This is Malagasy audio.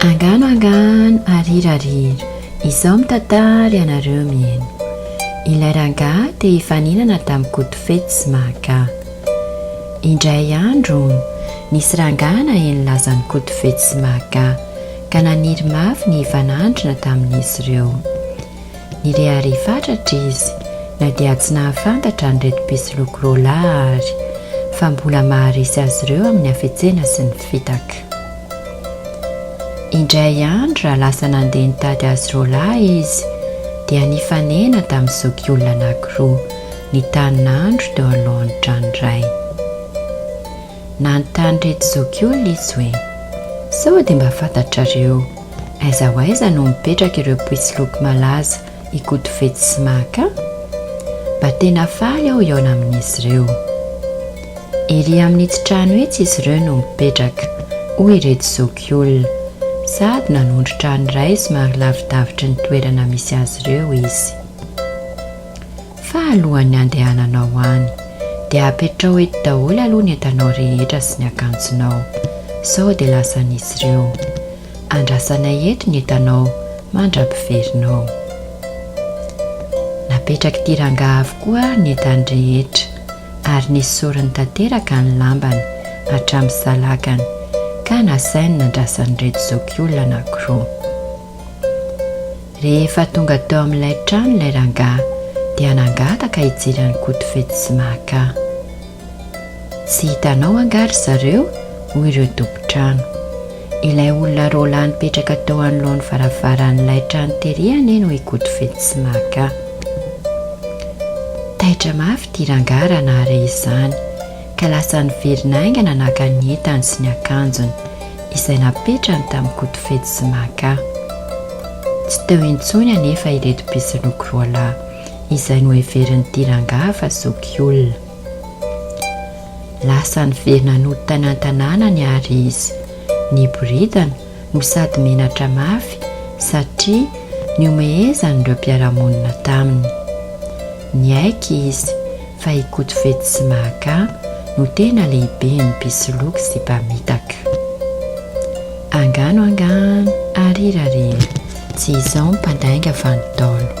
Angano angano arira rira izao mitantara ianareo mieno ilay rangahy te hifaninana tamin'i Koto fetsy sy mahagaga indray andro hono nisy rangahy naheno lazan'i Koto fetsy sy mahagaga ka naniry mafy ny hifanandrina tamin'izy ireo Nirehareha fatratra izy na dia tsy nahafantatra an'ireto mpisoloky roalahy àry fa mbola maharesy azy ireo amin'ny hafetsena sy ny fitaka. Indray andro raha lasa nandeha nitady azy roalahy izy dia nifanena tamin'ny zokiolona anankiroa nitanin'andro teo anoloan'ny tranon'iray. nanontany reto zokiolona izy hoe, Sao dia mba fantatrareo aiza ho aiza no mipetraka ireo mpisoloky malaza Ikotofetsy sy Maka? Mba tena faly aho hihaona amin'izy ireo. Ery amin'itsy trano itsy izy ireo no mipetraka, hoy ireto zokiolona, sady nanondro trano iray somary lavidavitry ny toerana misy azy ireo izy. Fa alohan'ny handehananao any dia apetraho eto daholo aloha ny entanao rehetra sy ny akanjonao sao dia lasan'izy ireo. Andrasanay eto ny entanao mandra-piverinao. Napetrak'ity rangahy avokoa ny entany rehetra ary nesoriny tanteraka ny lambany hatramin'ny salakany ka nasainy nandrasan'ireto zokiolona anankiroa. Rehefa tonga teo amin'ilay trano ilay rangahy dia nangataka hijery an'i Kotofetsy sy Mahaka. Tsy hitanao angaha ry zareo? hoy ireo tompon-trano. Ilay olona roa lahy nipetraka teo anoloan'ny varavaran'ilay trano tery anie no i Kotofetsy sy Mahaka. Taitra mafy ity rangahy raha nahare izany. ka lasa niverina haingana naka ny entany sy ny akanjony izay napetrany tamin'i Kotofetsy sy Maka. Tsy teo intsony anefa ireto mpisoloky roa lahy izay noheverin'ity rangahy fa zoky olona. Lasa niverina nody tany an-tanànany àry izy, niboridana no sady menatra mafy satria nihomehezan'ireo mpiara-monina taminy. Niaiky izy fa i Kotofetsy sy Mahakà no tena lehiben'ny mpisoloky sy mpamitaka. Angano angano ary hira re, tsy izao ny mpandainga fa ny Ntaolo.